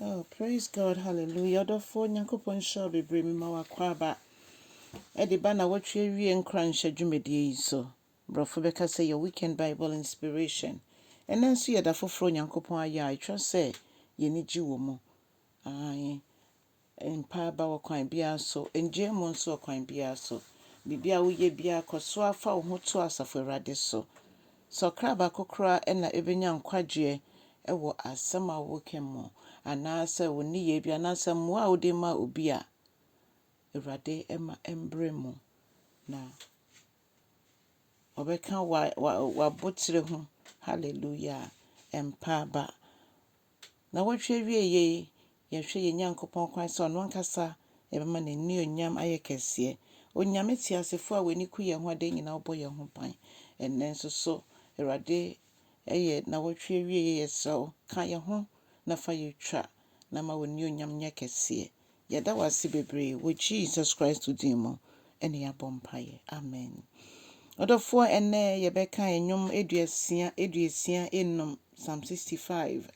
Oh praise God hallelujah ɔdɔfoɔ Nyankopɔn nhyira wo bebree mema w'akwaaba ɛde ba na wɔtwe wie nkoranhyɛ dwumadie yi so borɔfo bɛka sɛ your weekend Bible inspiration ɛnɛ nso yɛ da foforɔ Nyankopɔn ayɛ a ɛtwa sɛ yɛni gye wɔ mu ae Mpa aba ɔkwan biara so. Ngyae mu nso ɔkwan biara so. Biribiara a woyɛ biara, kɔ so ara fa wo ho to Asafo Awurade so. Sɛ ɔkra baako koraa na ebenya nkwagyeɛ wɔ asɛm a woka mu, anaasɛ wo nneyɛɛ bi, anaasɛ mmoa a wode ma obi a, Awurade mma ɛmbrɛ mu, na Ɔbɛka w'aboterɛ ho. Hallelujah! Mpa aba Nnawɔtwe awieeɛ yi, yɛhwɛ yɛn Nyankopɔn kwan sɛ Ɔno ankasa bɛma N'annuonyam ayɛ kɛseɛ. Onyame teasefoɔ a w'ani ku yɛn ho adeɛ nyinaa ɔbɔ yɛn ho ban. Ɛnnɛ nso so, Awurade, ɛyɛ nnawɔtwe awieeɛ, yɛsrɛ wo, ka yɛn ho na fa yɛn twa na ma w'annuonyam nyɛ kɛseɛ. Yɛda wo ase bebree wɔ Jesus Christ din mu na yɛabɔ mpaeɛ. Amen. Ɔdɔfoɔ ɛnnɛ yɛbɛka nnwom aduasia aduasia enum Psalm 65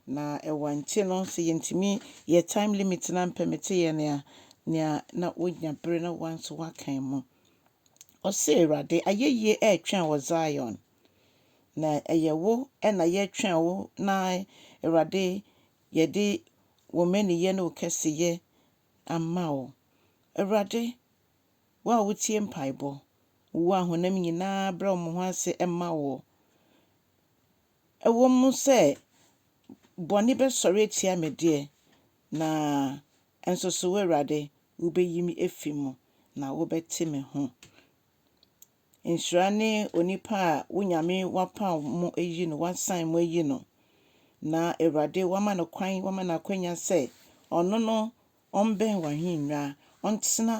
na ɛwɔ nte no sɛ yɛntumi yɛ time limit na mpɛ mete yɛ nea nea na wonya bere na wɔn nso wakan mu. Ɔse Awurade ayɛyie ɛretwɛn wɔ Zion na ɛyɛ wo ɛna yɛtwɛn wo na Awurade Yɛde wo mmaninyɛ ne wo kɛseyɛ ama wo. Awurade, wo a wotie mpaebɔ, wo a honam nyinaa brɛ wɔn ho ase ma wo. Ɛwom sɛ bɔne bɛsɔre atia me deɛ, na nso so wo Awurade, wubeyi me afi mu, na wobɛte me ho. Nhyira ne onipa a wo Nyame wapaw mo ayi no, wasan mo ayi no, na Awurade wama no kwan, wama no akwanya sɛ ɔno no ɔmbɛn w'ahennwa, ɔntena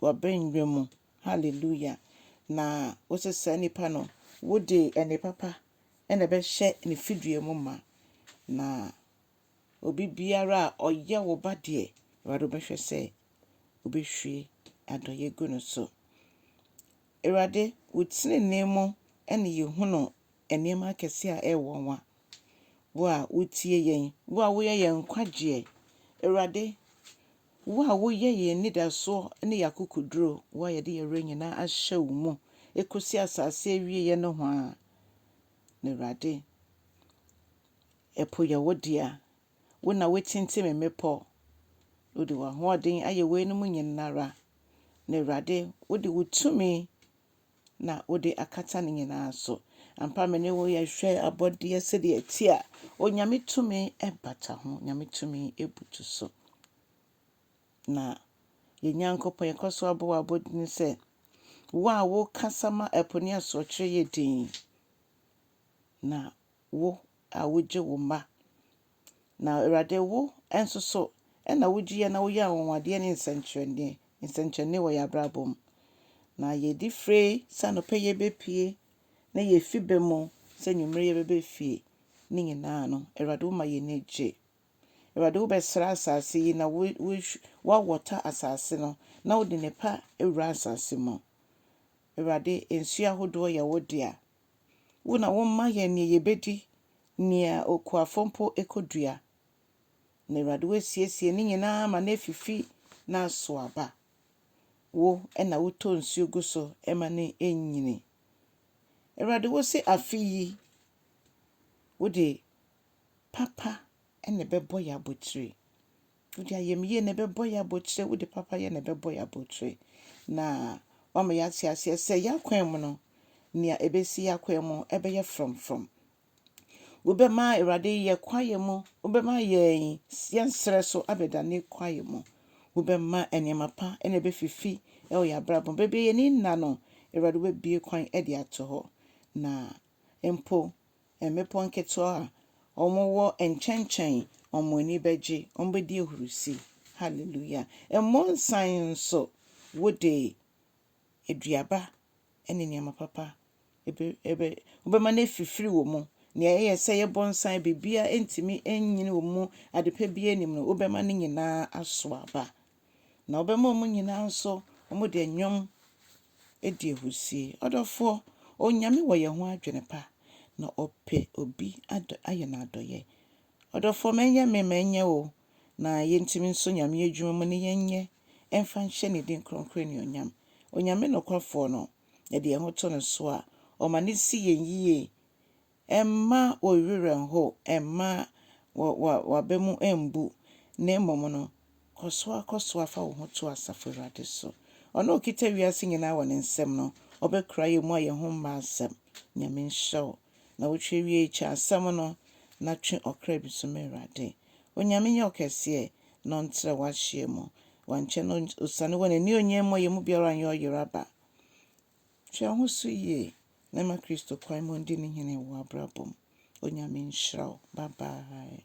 w'abannwa mu. Hallelujah! Na wo sɛ saa nipa no, wode ɛnne papa na ɛbɛhyɛ ne fidua mu ma, na Obi biara a ɔyɛ wo ba deɛ, Awurade wobɛhwɛ sɛ wobɛhwie adɔeɛ gu no so. Awurade, wo tenenee mu ɛne yɛhunu nneɛma akɛseɛ a ɛyɛ nwanwa. Wo a wotie yɛn, wo a woyɛ yɛn nkwagyeɛ. Awurade, wo a woyɛ yɛn anidasoɔ ne yɛn akokoduro, wo a yɛde yɛn werɛ nyinaa ahyɛ wo mu ɛkɔsi asase awieɛ nohoa. Na Awurade, Ɛpo yɛ wo dea. Wo na woatintim mmepɔ. Wode w'ahoɔden ayɛ weinom nyina ara. Na Awurade, wode wo tumi na wode akata ne nyinaa so. Ampa me ne wo yɛhwɛ abɔdeɛ sɛdeɛ ɛteɛ a, Onyame tumi bata ho, Onyame tumi butu so. Na yɛn Nyankopɔn yɛkɔ so abɔ w'abɔdini sɛ, wo a wokasa ma ɛpo ne asorɔkyerɛ yɛ dinn, na Wo a wogye wo mma. Na Awurade, wo nso so na wogye yɛn na woyɛ anwanwadeɛ ne nsɛnkyerɛnneɛ, nsɛnkyerɛnneɛ wɔ yɛn abrabɔ mu. Na yɛdi fire sɛ anɔpa yɛbɛpue na yɛfi bɛ mu sɛ anwummere yɛbɛbɛ fie ne nyinaa no, Awurade woma yɛn ani gye. Awurade wobɛsra asase yi na woawɔta asase no na wode nnepa awura asase mu. Awurade, nsuo ahodoɔ yɛ wo dea. Wo na woma yɛn nea yebedi, nea okuafo mpo kodua. Na Awurade woasiesie ne nyinaa ma no afifi na asow aba. Wo na wotɔ nsu gu so ma no nyini. Awurade, wose afe yi wode papa na ɛbɛbɔ yɛn abotiri. Wode ayamyie na ɛbɛbɔ yɛn abotire, wode papayɛ na ɛbɛbɔ yɛn abotire. Na wama yɛate aseɛ sɛ yɛn akwan mu no, nea ɛbɛsi yɛn akwan mu ɛbɛyɛ frɔmfrɔm. Wobɛma Awurade yɛ kwaeɛ mu, wobɛma yɛn yɛn serɛ so abɛdane kwaeɛ mu. Wobɛma nneɛma pa na ɛbɛfifi wɔ yɛn abrabɔ mu. Baabi a yɛn ani nna no, Awurade wobɛbue kwan de ato hɔ. Na mpo mmepɔ nketewa a wɔwɔ nkyɛnkyɛn, wɔn ani bɛgye, wɔbɛdi ahurusi. Hallelujah! Mmonsan nso, wode aduaba ne nneɛma papa ɛbɛ, ɛbɛ, wobɛma no afifiri wɔ mu. Nea ɛyɛ sɛ ɛyɛ bɔnsan, biribiara ntumi nnyini wɔ mu, adepa biara nnim no, wobɛma ne nyinaa aso aba. na ɔbɛma wɔn nyinaa nso wɔde nnwom adi ahurusie. Ɔdɔfoɔ, Onyame wɔ yɛn ho adwene pa, na ɔpɛ obi adɔ ayɛ no adɔeɛ. Ɔdɔfoɔ, ma ɛnyɛ me, ma ɛnyɛ wo, na yɛntumi nso Nyame adwuma mu ne yɛnyɛ mfa nhyɛ ne din kronkron anuonyam. Onyame nokwafoɔ no, yɛde yɛn ho to no so a, ɔma no si yɛn yie Mma wo werɛ nnhow, mma w'aba mu mmbu, na mmom no, kɔ so ara kɔ so ara fa wo ho to asafo Awurade so. Ɔno a okita wiase nyinaa wɔ ne nsam no, ɔbɛkora yɛn mu a yɛn ho mma asɛm. Nyame nhyira wo. Na wotwe wie yi, kyɛ asɛm no, na twe ɔkra bi so ma Awurade. Onyame nyɛ ɔkɛseɛ, na ɔntrɛ w'ahyeɛ mu. Wankyɛ na osiane wɔ n'anionyam mu a yɛn mu biara anyɛ ɔyeraba. Hwɛ wo ho so yie. na ɛma Kristo kwan ma ɔndi no hene wɔ w'abrabɔ mu. Onyame nhyira wo. Bye bye.